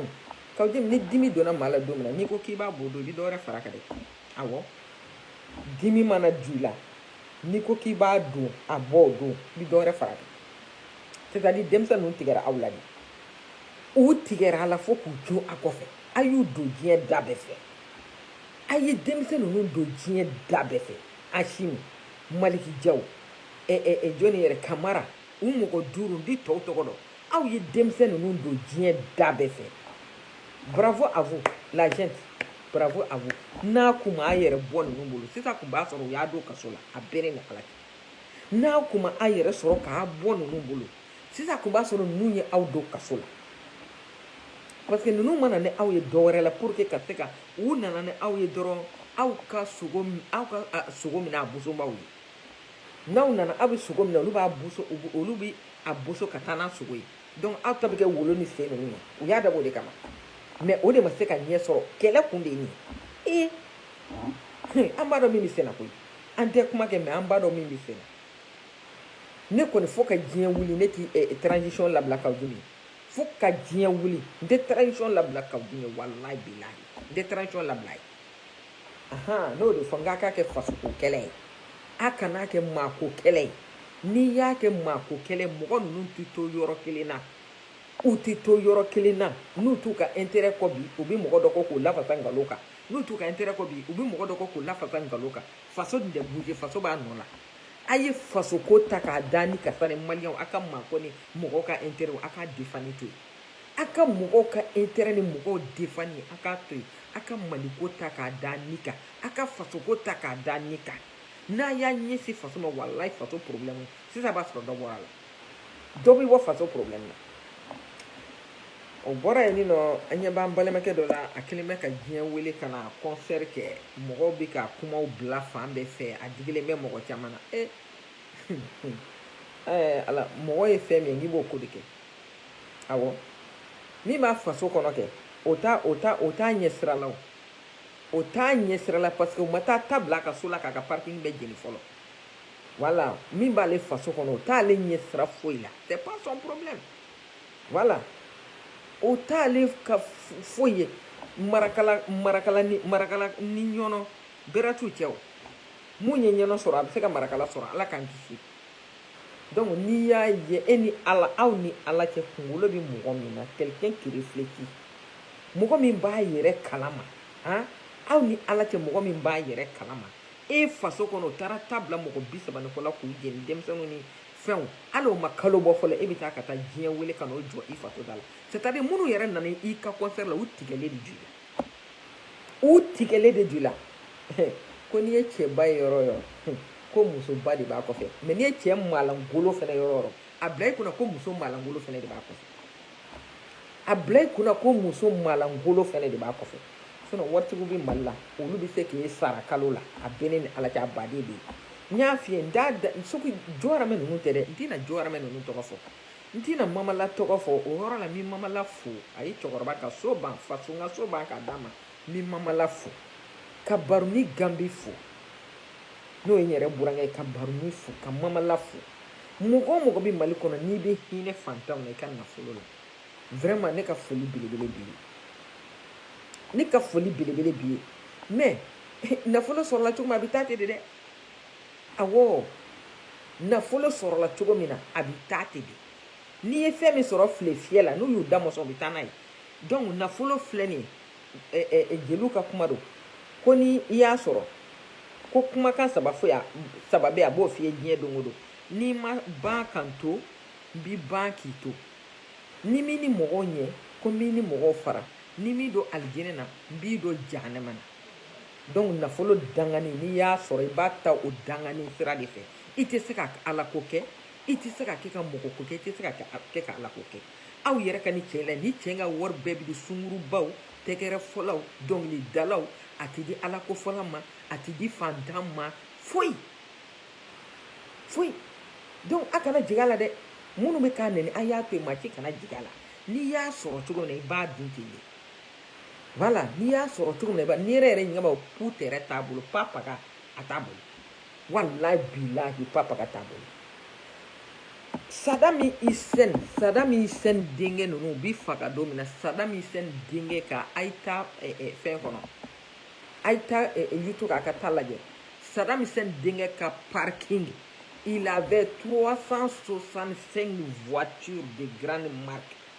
kawu jimi ni dimi donna maa la don min na n'i ko k'i b'a bɔ don i bɛ dɔ wɛrɛ fara kan dɛ awɔ Dimi mana don i la n'i ko k'i b'a don a bɔ o don i bɛ dɔ wɛrɛ fara kan c'est à dire denmisɛn ninnu tigɛra aw la de u tigɛra a la fo k'u to a kɔfɛ a y'u don diɲɛ da bɛɛ fɛ a ye denmisɛn ninnu don diɲɛ da bɛɛ fɛ Asimi Maliki Jaw ɛ ɛ ɛ jɔni yɛrɛ Kamara u mɔgɔ duuru n tɛ tɔw tɔgɔ dɔn Aw ye denmisɛn ninnu don diɲɛ da bɛɛ fɛ. Bravo à vous la junte. Bravo à vous. N'a kun ma a yɛrɛ bɔ ninnu bolo, sisan kun b'a sɔrɔ u y'a don kaso la. A bɛɛ ni Ala cɛ. N'a kun ma a yɛrɛ sɔrɔ k'a bɔ ninnu bolo, sisan kun b'a sɔrɔ ninnu ye aw don kaso la. Parce que ninnu ma na ni aw ye dɔ wɛrɛ la pour que ka se ka u nana ni aw ye dɔrɔn aw ka sogo minɛ a bosobaaw ye. n'aw nana aw bɛ sogo minɛ olu bɛ a boso ka taa n'a sogo ye donc aw ta bɛ kɛ wolo ni sen ninnu ye u y'a dabɔ o de kama mais o de ma se ka ɲɛ sɔrɔ kɛlɛ kun de ye nin ye ee an b'a dɔn min bɛ senna koyi an tɛ kuma kɛ mais an b'a dɔn min bɛ senna ne kɔni fo ka diɲɛ wuli ne tɛ eh, eh, transition labila kawu jimi fo ka diɲɛ wuli n tɛ transition labila kawu jimi walayi bilayi n tɛ transition labila ye ahan n y'o de fɔ n k'a k'a kɛ fasoko kɛlɛ ye a kan'a kɛ maako kɛlɛ ye n'i y'a kɛ maako kɛlɛ mɔgɔ ninnu tɛ to yɔrɔ kelen na u tɛ to yɔrɔ kelen na n'u t'u ka intérêt kɔ bi u bɛ mɔgɔ dɔ kɔ k'u lafasa nkalon kan n'u t'u ka intérêt kɔ bi u bɛ mɔgɔ dɔ kɔ k'u lafasa nkalon kan faso dun tɛ bouger faso b'a nɔ la a ye fasoko ta k'a da ni karisa ni maliyɛnw a ka maako ni mɔgɔ ka intérêt a k'a defani to yen A ka mɔgɔw ka intérêt ni mɔgɔw défendre a k'a to yen, a ka Mali ko ta k'a da ni kan, a ka faso ko ta k'a da ni kan, n'a y'a ɲɛsin faso ma walayi faso problème sisan b'a sɔrɔ dɔ bɔra a la, dɔ bɛ bɔ faso problème na. O bɔra yen nɔ an ɲɛ b'an balimakɛ dɔ la a kelen bɛ ka diɲɛ wele ka na concert kɛ mɔgɔw bɛ ka kumaw bila fan bɛɛ fɛ a digilen bɛ mɔgɔ caman na e ɛɛ ala mɔgɔ ye fɛn min ye n'i b'o ko de kɛ awɔ min b'a faso kɔnɔ kɛ o t'a o t'a o t'a ɲɛsira la o o t'a ɲɛsira la parce que o ma taa ta bila a ka so la k'a ka parking bɛɛ jeni fɔlɔ voilà min b'ale faso kɔnɔ o t'ale ɲɛsira foyi la c'est pas son problème voilà o t'ale ka foyi ye marakala marakala ni marakala ni ɲɔnɔ bɛrɛ t'u cɛ o mun ye ɲɔnɔ sɔrɔ a bɛ se ka marakala sɔrɔ ala k'an kisi Donc n'i y'a ye e ni Ala aw ni Ala cɛ kunkolo bɛ mɔgɔ min na quelqu'un qui réfléchit mɔgɔ min b'a yɛrɛ kalama an aw ni Ala cɛ mɔgɔ min b'a yɛrɛ kalama e faso kɔnɔ o taara ta bila mɔgɔ bi saba ni kɔ la k'u jeni denmisɛnninw ni fɛnw hali o ma kalo bɔ fɔlɔ e bɛ taa ka taa diɲɛ wele ka n'o jɔ i faso da la c'est à dire minnu yɛrɛ nana i ka concert la u tigɛlen de ju la u tigɛlen de ju la ko n'i ye cɛba ye yɔrɔ o yɔrɔ ko musoba de b'a kɔfɛ mais n'i ye cɛ maalankolon fana yɔrɔ o yɔrɔ a bila i kunna ko muso maalankolon fana de b'a kɔfɛ a bila i kunna ko muso maalankolon fana de b'a kɔfɛ sinon waritigiw bɛ mali la olu bɛ se k'i sara kalo la a bɛ ne ni ala cɛ a baden de ye n y'a f'i ye n t'a da sugu jɔgɔramɛ ninnu tɛ dɛ n tɛna jɔgɔramɛ ninnu tɔgɔ fɔ N tɛna Mamala tɔgɔ fɔ o yɔrɔ la, n bɛ Mamala fo, a ye cɛkɔrɔba ka so ban, faso n ka so ban k'a d'a ma, n bɛ Mamala fo, ka Baruni Ganbi fo, n'o ye n yɛrɛ burankɛ ye, ka Baruni fo, ka Mamala fo. Mɔgɔ o mɔgɔ bɛ Mali kɔnɔ n'i bɛ hinɛ fantanw na i ka nafolo la, vraiment ne ka foli belebele b'i ye, ne ka foli belebele b'i ye, mais nafolo sɔrɔla cogo min a bɛ taa ten de dɛ! Awɔ, nafolo sɔrɔla cogo min na, a bɛ taa ten de. N'i ye fɛn min sɔrɔ file fiyɛ la, n'u y'u da mɔsɔn, u bɛ taa n'a ye. Donc, nafolo filɛ nin ye, jeliw ka kuma don, ko ni i y'a sɔrɔ, ko kumakan saba fɔ yan, saba bɛ yen, a b'o f'i ye diɲɛ don o don, N'i ma ban ka n to, n b'i ban k'i to. Ni n m'i ni mɔgɔw ɲɛ, ko n b'i ni mɔgɔw fara. Ni n m'i don alijinɛ na, n b'i don jahanama na. Donc nafolo dangani n'i y'a sɔrɔ i b'a ta o dangani sira de fɛ i tɛ se ka Ala ko kɛ i tɛ se ka kɛ ka mɔgɔ ko kɛ i tɛ se ka kɛ ka Ala ko kɛ aw yɛrɛ ka ni cɛ la ni cɛ ka wari bɛɛ bɛ di sungurubaw tɛgɛrɛ fɔlaw dɔnkilidalaw a tɛ di Ala ko fɔla ma a tɛ di fantan ma foyi foyi donc a kana jig'a la dɛ minnu bɛ k'a nɛni a y'a to yen maa si kana jig'a la n'i y'a sɔrɔ cogo min na i b'a dun ten de Voilà n'i y'a sɔrɔ cogo min na ni yɛrɛ yɛrɛ ɲɛba k'u tɛɛrɛ t'a bolo pa paga a t'a bolo walayi bilahi pa paga t'a bolo Saddam Hussein Saddam Hussein denkɛ ninnu u bɛ faga don min na Saddam Hussein denkɛ ka a ye taa fɛn kɔnɔ a ye taa YouTube kan ka taa lajɛ Saddam Hussein denkɛ ka parking il avait 365 voitures de grande marque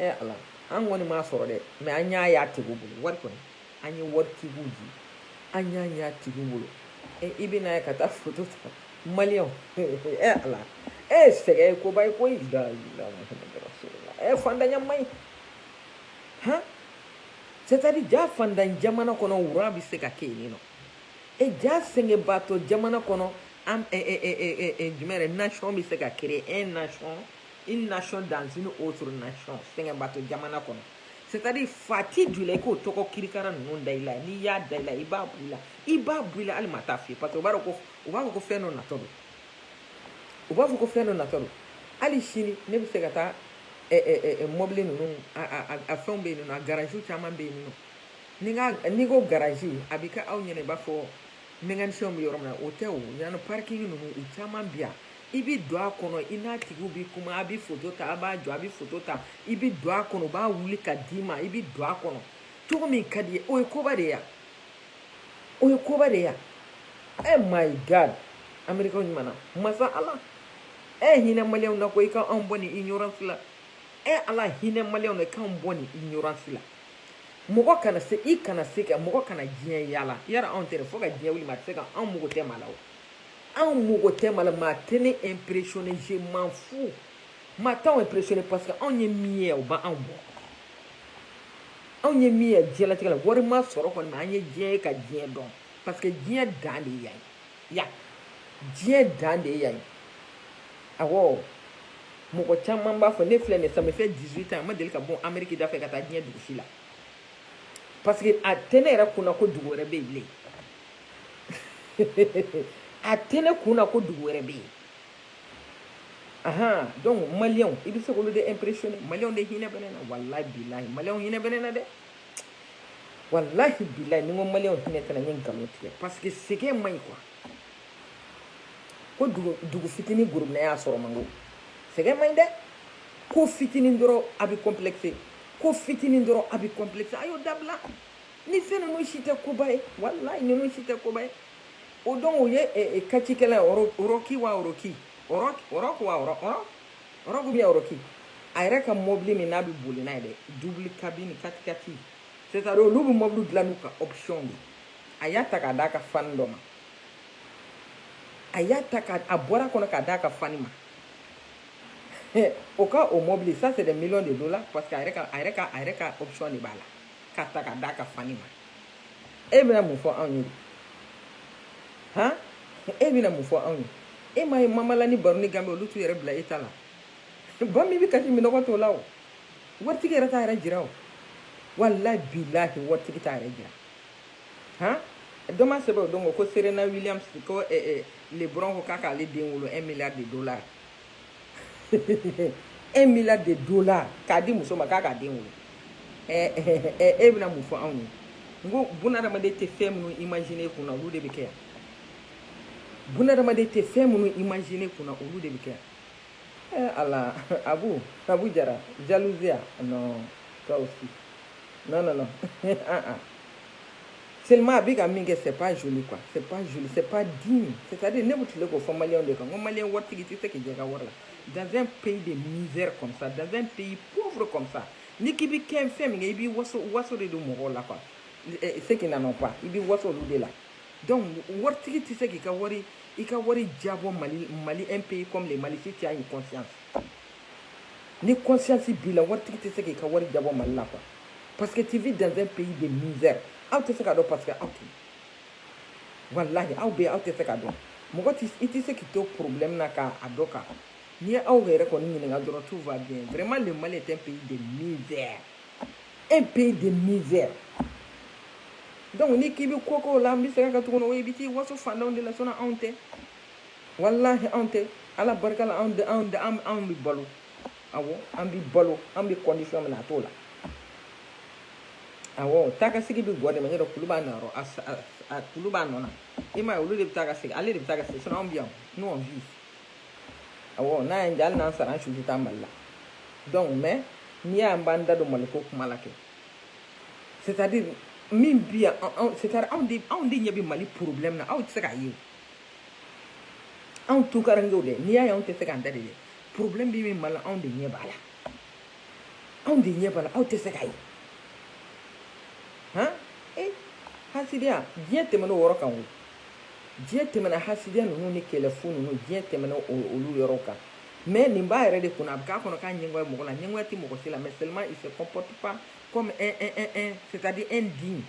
ɛ ala an kɔni m'a sɔrɔ dɛ mais an y'a y'a tigiw bolo wari kɔni an ye wari tigiw di an y'a y'a tigiw bolo ɛ i bɛn'a ye ka taa foto ta maliyɛnw ɛ ala e sɛgɛn ye koba ye koyi la ilaha muhamadu rasulullah ɛ fantanya man ɲi han c'est à dire ja fantan jamana kɔnɔ wura bɛ se ka kɛ yen nɔ E ja sɛgɛnbaatɔ jamana kɔnɔ an jumɛn yɛrɛ nation bɛ se ka créer un nation une nation dans une autre nation sɛgɛnbaatɔ jamana kɔnɔ c'est à dire fati jula i k'o tɔgɔ kirikara ninnu da i la n'i y'a da i la i b'a bɔ i la i b'a bɔ i la hali maa t'a f'i ye parce que u b'a dɔn ko u b'a fɔ ko fɛn dɔ natɔ don u b'a fɔ ko fɛn dɔ natɔ don hali sini ne bɛ se ka taa mɔbili ninnu a fɛnw bɛ yen nɔ a garage caman bɛ yen nɔ Ni ka n'i ko garaji a bɛ kɛ aw ɲɛna i b'a fɔ mécanicien bɛ yɔrɔ min na o tɛ o yan parking ninnu u caman bi yan i bɛ don a kɔnɔ i n'a tigi bɛ kuma a bɛ foto ta a b'a jɔ a bɛ foto ta i bɛ don a kɔnɔ u b'a wuli ka d'i ma i bɛ don a kɔnɔ cogo min ka d'i ye o ye koba de yan o ye koba de yan e my god anri ɲuman masa ala e hinɛ maliyɛnw na ko i ka anw bɔ nin ignorance la e ala hinɛ maliyɛnw na k'an bɔ nin ignorance la mɔgɔ kana se i kana se ka mɔgɔ kana diɲɛ yaala yara anw tɛ fo ka diɲɛ wuli maa tɛ se ka anw mago tɛ maa la anw mago tɛ maa la maa tɛ ne impressionné je m'en fous maa t'anw impressionné parce que anw ye min ye o b'anw bɔ anw ye min ye diɲɛlatigɛ la wari ma sɔrɔ kɔni mais an ye diɲɛ ye ka diɲɛ dɔn parce que diɲɛ dan de yan Yan diɲɛ dan de ye yan ye awɔ mɔgɔ caman b'a fɔ ne filɛ nin ça me fait 18 ans ma deli ka bɔ ameriki da fɛ ka taa diɲɛ dugu si la parce que a tɛ ne yɛrɛ kunna ko dugu wɛrɛ bɛ yen bilen a tɛ ne kunna ko dugu wɛrɛ bɛ yen ahan donc maliyɛnw i bɛ se k'olu de impressionner maliyɛnw de hinɛ bɛ ne na walayi bilayi maliyɛnw hinɛ bɛ ne na dɛ walahi bilayi ni n ko maliyɛnw hinɛ tɛ n na n ye nkalon tigɛ parce que sɛgɛn man ɲi quoi ko dugu dugu fitini gorobinɛya sɔrɔ man go sɛgɛn man ɲi dɛ ko fitini dɔrɔn a bɛ complexé ko fitini dɔrɔn a bɛ complexé a y'o dabila ni fɛn ninnu si tɛ koba ye walayi ninnu si tɛ koba ye o donc o ye kacikɛla ye ɔrɔki wa ɔrɔki ɔrɔki wa ɔrɔ ɔrɔ Ɔrɔki bien ɔrɔki a yɛrɛ ka mɔbili min n'a bɛ boli n'a ye dɛ double cabine katikati c'est à dire olu bɛ mɔbili dilan n'u ka option de a y'a ta k'a d'a ka fani dɔ ma a y'a ta a bɔr'a kɔnɔ k'a d'a ka fani ma o ka o mɔbili ça c'est des millions de dollars parce que a yɛrɛ ka a yɛrɛ ka a yɛrɛ ka option de b'a la k'a ta k'a d'a ka fani ma e bɛna mun fɔ anw ye han e bɛna mun fɔ anw ye e m'a ye mama lah ni barouni gamby olu t'u yɛrɛ bila e ta la ba min bɛ kasi minnɔgɔ t'o la o waritigi yɛrɛ t'a yɛrɛ jira o walahi bilahi waritigi t'a yɛrɛ jira han dɔ m'a sɛbɛn o don ko serena williams ko eh, eh, lebron ko k'a k'ale den wolo un milliard de dollars un milliard de dollars k'a di muso ma k'a k'a den wolo e bɛna mun fɔ anw ye n ko bunadamaden tɛ fɛn minnu imaginer kun na olu de bɛ kɛ yan bunadamaden tɛ fɛn minnu imaginer kun na olu de bɛ kɛ yan eh ala abu abu jara jalousie non toi aussi non non non ah ah seulement a bɛ ka min kɛ c'est pas joli quoi c'est pas joli c'est pas digne c'est à dire ne bɛ tile k'o fɔ maliyɛnw de kan ko maliyɛn waritigi tɛ se k'i jɛ ka wari la dans un pays de misère comme ça dans un pays pauvre comme ça n'i k'i bɛ kɛ fɛn min kɛ i b'i waso waso de don mɔgɔw la quoi eh, ceux qui n'en ont pas i b'i waso olu de la donc waritigi tɛ se k'i ka wari i ka wari jabɔ mali mali un pays comme le mali si tu as une conscience ni conscience b'i la waritigi tɛ se k'i ka wari jabɔ mali la quoi parce que tu vis dans un pays de misère aw tɛ se k'a dɔn parce que aw tɛ walahi aw bɛ aw tɛ se k'a dɔn mɔgɔ tɛ i tɛ se k'i to problème na ka a dɔn k'a kɔnɔ n'i ye aw yɛrɛ kɔni ɲininka dɔrɔn tout va bien vraiment le Mali est un pays de misère un pays de misère donc n'i k'i bɛ ko k'o la n bɛ segin a kan tuguni o ye i bɛ t'i waso faantanw de la sinon anw tɛ Walahi anw tɛ ala barika la anw anw bɛ balo awɔ an bɛ balo an bɛ condition min na a t'o la awɔ taakasegin bɛ gɔn de ma n'o tɛ kulu b'a nɔ rɔ a kulu b'a nɔ na i m'a ye olu de bɛ taa ka segin ale de bɛ taa ka segin sinon anw bɛ yan nous on vit awɔ n'a y'an diya hali n'an sara an su tɛ taa mali la donc mais n'i y'a ye an b'an da don maliko kuma la kɛ c'est à dire min bi yan c'est à dire anw de anw de ɲɛ bɛ mali problème na aw tɛ se k'a ye anw tukarankew dɛ n'i y'a ye anw tɛ se k'an da de dɛ problème bɛ min mali la anw de ɲɛ b'a la anw de ɲɛ b'a la aw tɛ se k'a ye han e hasidiya diɲɛ tɛmɛna o yɔrɔ kan o diɲɛ tɛmɛna hasidiya ninnu ni kɛlɛfu ninnu diɲɛ tɛmɛna olu yɔrɔ kan mais nin b'a yɛrɛ de kunna a bɛ k'a kɔnɔ k'a ɲɛngoya mɔgɔ la ɲɛngoya tɛ mɔgɔ si la mais seulement il se comporte pas comme un un un un c'est à dire un digne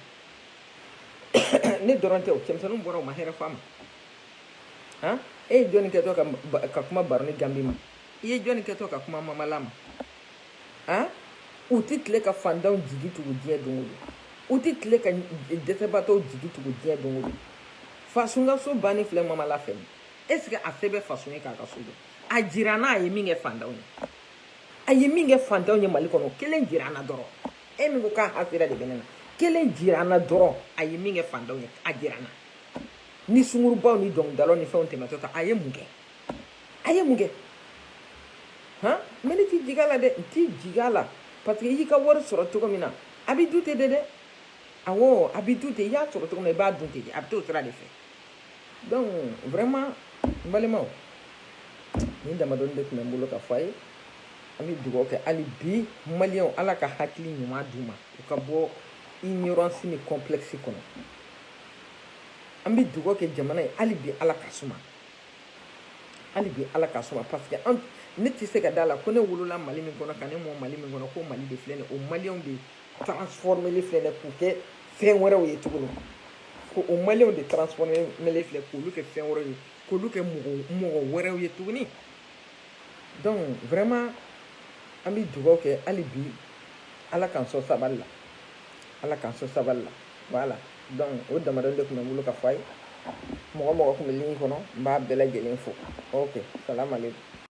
ne dɔrɔn tɛ o cɛmisɛnninw bɔra u ma hɛrɛ fɔ a ma han e ye jɔni kɛtɔ ka kuma baroni gambi ma i ye jɔni kɛtɔ ka kuma mamala ma han u tɛ tile ka fantanw jigi tugu diɲɛ don o don u tɛ tile ka dɛsɛbaatɔw jigi tugu diɲɛ don o don fasun ka so banni filɛ mamala fɛ nin est ce que a se bɛ fasun ye k'a ka so jɔ a jira an na a ye min kɛ fantanw ye a ye min kɛ fantanw ye mali kɔnɔ kelen jira an na dɔrɔn e min ko k'a hasidiya de bɛ ne na kelen jira an na dɔrɔn a ye min kɛ fantanw ye a jira an na ni sungurubaw ni dɔnkilidalaw ni fɛnw tɛmɛtɔ ta a ye mun kɛ a ye mun kɛ han mais ne t'i jigin a la dɛ n t'i jigin a la parce que i y'i ka wari sɔrɔ cogo min na a bɛ dun ten de dɛ awɔ a bɛ dun ten i y'a sɔrɔ cogo min na i b'a dun ten de a bɛ t'o sira de fɛ donc vraiment n balimaw nin damadɔni de tun bɛ n bolo ka fɔ a ye an bɛ dugawu kɛ hali bi maliyɛnw ala ka hakili ɲuman d'u ma u ka bɔ ignorance ni complexe kɔnɔ an bɛ dugawu kɛ jamana ye hali bi ala ka suma hali bi ala ka suma parce que an ne tɛ se ka d'a la ko ne wolola mali min kɔnɔ ka ne mɔ mali min kɔnɔ ko mali de filɛ nin o maliyɛnw de transformeli filɛ nin k'u kɛ fɛn wɛrɛw ye tuguni ko o maliyɛnw de transformeli filɛ k'olu kɛ fɛn wɛrɛw ye k'olu kɛ mɔgɔ wɛrɛw ye tuguni donc vraiment an bɛ dugawu kɛ hali bi ala k'an sɔn sabali la ala k'an sɔn sabali la voilà donc o damadɔni de tun bɛ n bolo ka fɔ a ye mɔgɔ mɔgɔ tun bɛ ligne kɔnɔ n b'a bɛɛ lajɛlen fo ok salam aleykum